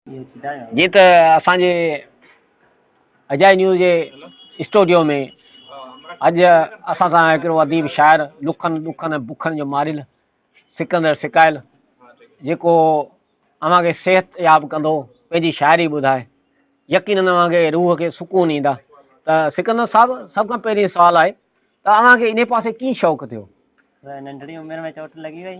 جيئن ته اسان جي اجائي نيوز جي اسٽوڊيو ۾ اڄ اسان سان هڪڙو اديب شاعر لکن ڏکن ۽ بکن جو ماريل سڪندر سڪائل جيڪو اوهان کي صحت ياب ڪندو پنهنجي شاعري ٻڌائي يقينن اوهان کي روح کي سڪون ڏيندا ته سڪندر صاحب سڀ کان پهرين سوال آهي ته اوهان کي ان پاسي ڪيئن شوق ٿيو ننڍڙي عمر ۾ چوٽ لڳي وئي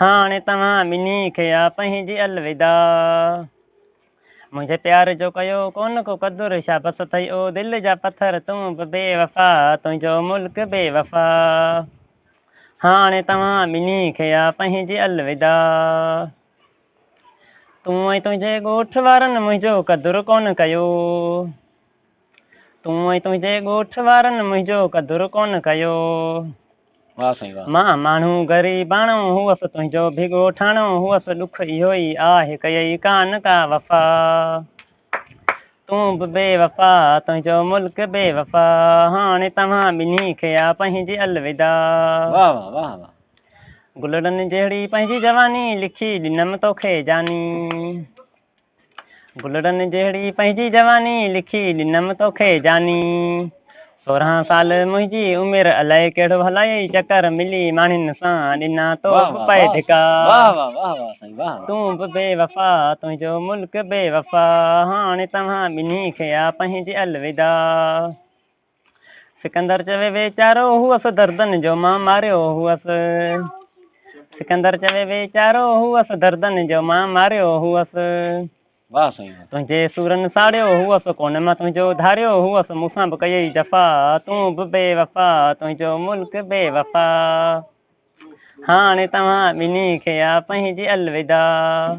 هاڻي توهان ٻنهي کي آ پنهنجي الوداع. منهنجي پيار جو ڪيو ڪونه ڪو قدر شا بس ٿئي او دل جا پٿر تون به بي وفا تنهنجو ملڪ بي وفا. هاڻي توهان ٻنهي کي آ پنهنجي الوداع. تون ۽ تنهنجي ڳوٺ وارن منهنجو قدر ڪونه ڪيو. تون ۽ تنهنجي ڳوٺ وارن منهنجو قدر ڪونه ڪيو. واه سائين واه. مان ماڻهو غريباڻو هئس تنهنجو به ڳوٺاڻو هئس ڏک اهو ئي آهه ڪيئي ڪانه ڪا وفا تون به بي وفا تنهنجو ملڪ بي وفا هاڻي توهان ٻنهي کي آ پنهنجي الوداع. واه واه واه واه. گلڙن جهڙي پنهنجي جواني لکي ڏنم توکي جاني. گلڙن جهڙي پنهنجي جواني، لکي ڏنم توکي جاني. سورهن سال منهنجي عمر، الائي ڪهڙو هلايئي چڪر، ملي ماڻهين سان ڏنا تو به پئي ڌڪا. تون به بي وفا، تنهنجو ملڪ بي وفا، هاڻي توهان ٻنهي کي آ پنهنجي الوداع. سڪندر چوي ويچارو هئس دردن جو مان ماريو هئس سڪندر چوي ويچارو هئس دردن جو مان ماريو هئس واهه سائين تنهنجي سورن ساڙيو هئس ڪونه مان تنهنجو ڌاريو هئس مون سان به ڪيئي جفا تون به بي وفا تنهنجو ملڪ بي وفا هاڻي توهان ٻنهي کي آ پنهنجي الوداع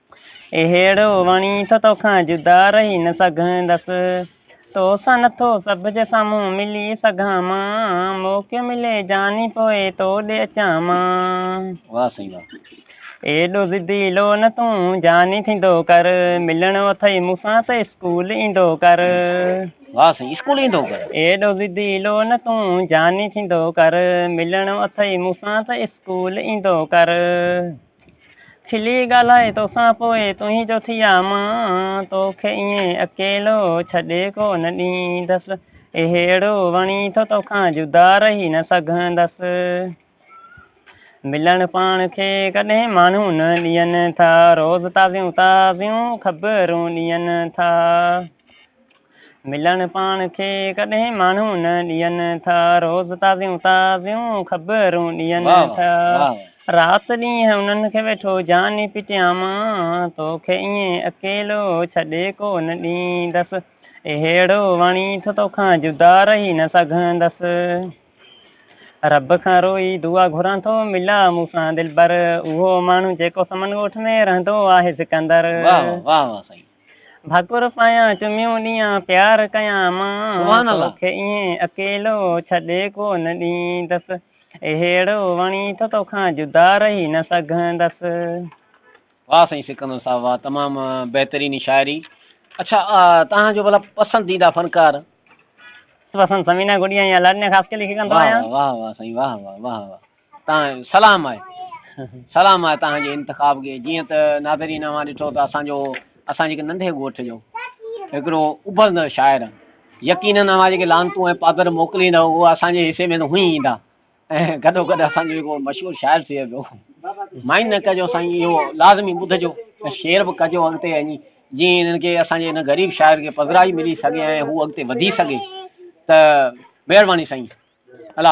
اهڙو وڻي ٿو تو کان جدا رهي نه سگهندس، تو سان نٿو سڀ جي سامهون ملي سگهان مان، موقعو ملي جاني پوء تو ڏي اچان مان. واه سائين واه. ايڏو ضدي لو نه تون جاني ٿيندو ڪر، ملڻو اٿئي مون سان ته اسڪول ايندو ڪر. واه سائين اسڪول ايندو ڪر. ايڏو ضدي لو نه تون جاني ٿيندو ڪر، ملڻو اٿئي مون سان ته اسڪول ايندو ڪر. کلي ڳالهائي توسان پوء تنهي جو ٿي آ مان، توکي ائين اڪيلو ڇڏي ڪو نه ڏيندس، اهڙو وڻي ٿو توکان جدا رهي نه سگهندس، ملڻ پاڻ کي ڪڏهن ماڻهو نه ڏين ٿا، روز تازيون تازيون خبرون ڏين ٿا. ملڻ پاڻ کي ڪڏهن ماڻهو نه ڏين ٿا، روز تازيون تازيون خبرون ڏين ٿا، رات ڏينهن انهن کي ويٺو جاني پٽيان مان، توکي ائين اڪيلو ڇڏي ڪو نه ڏيندس، اهڙو وڻي ٿو توکان جدا رهي نه سگهندس، رب کان روئي دعا گهران ٿو ملا مون سان دلبر، اهو ماڻهو جيڪو سمن ڳوٺ ۾ رهندو آهي سڪندر. ڀاڪر پايان چميون ڏيان پيار ڪيان مان توکي ائين اڪيلو ڇڏي ڪو نه ڏيندس اهڙو وڻي ٿو توکان جدا رهي نه سگهندس. واه سائين سڪندر صاحب واه تمام بهترين شاعري اڇا توهان جو ڀلا پسنديده فنڪار. پسند ثمينه گڏيا يا لاڏنيا خاصخيلي کي ڪندو آهيان. واه واه واه سائين واه واه واه واه. تان سلام آهي سلام آهي تان جي انتخاب کي جيئن ته ناظرين اوهان ڏٺو ته اسان جو اسان جي هڪ ننڍي ڳوٺ جو هڪڙو اڀرندڙ شاعر يقينن اوهان جيڪي لانتون ۽ پادر موڪليندا اهو اسان جي حصي ۾ ته هونئي ايندا ۽ گڏو گڏ اسان جو جيڪو مشهور شاعر ٿئي پيو مائن نه ڪجو سائين اهو لازمي ٻڌجو ۽ شيئر به ڪجو اڳتي وڃي جيئن انهن کي اسان جي هن غريب شاعر کي پذرائي ملي سگهي ۽ هو اڳتي وڌي سگهي ته مهرباني سائين الله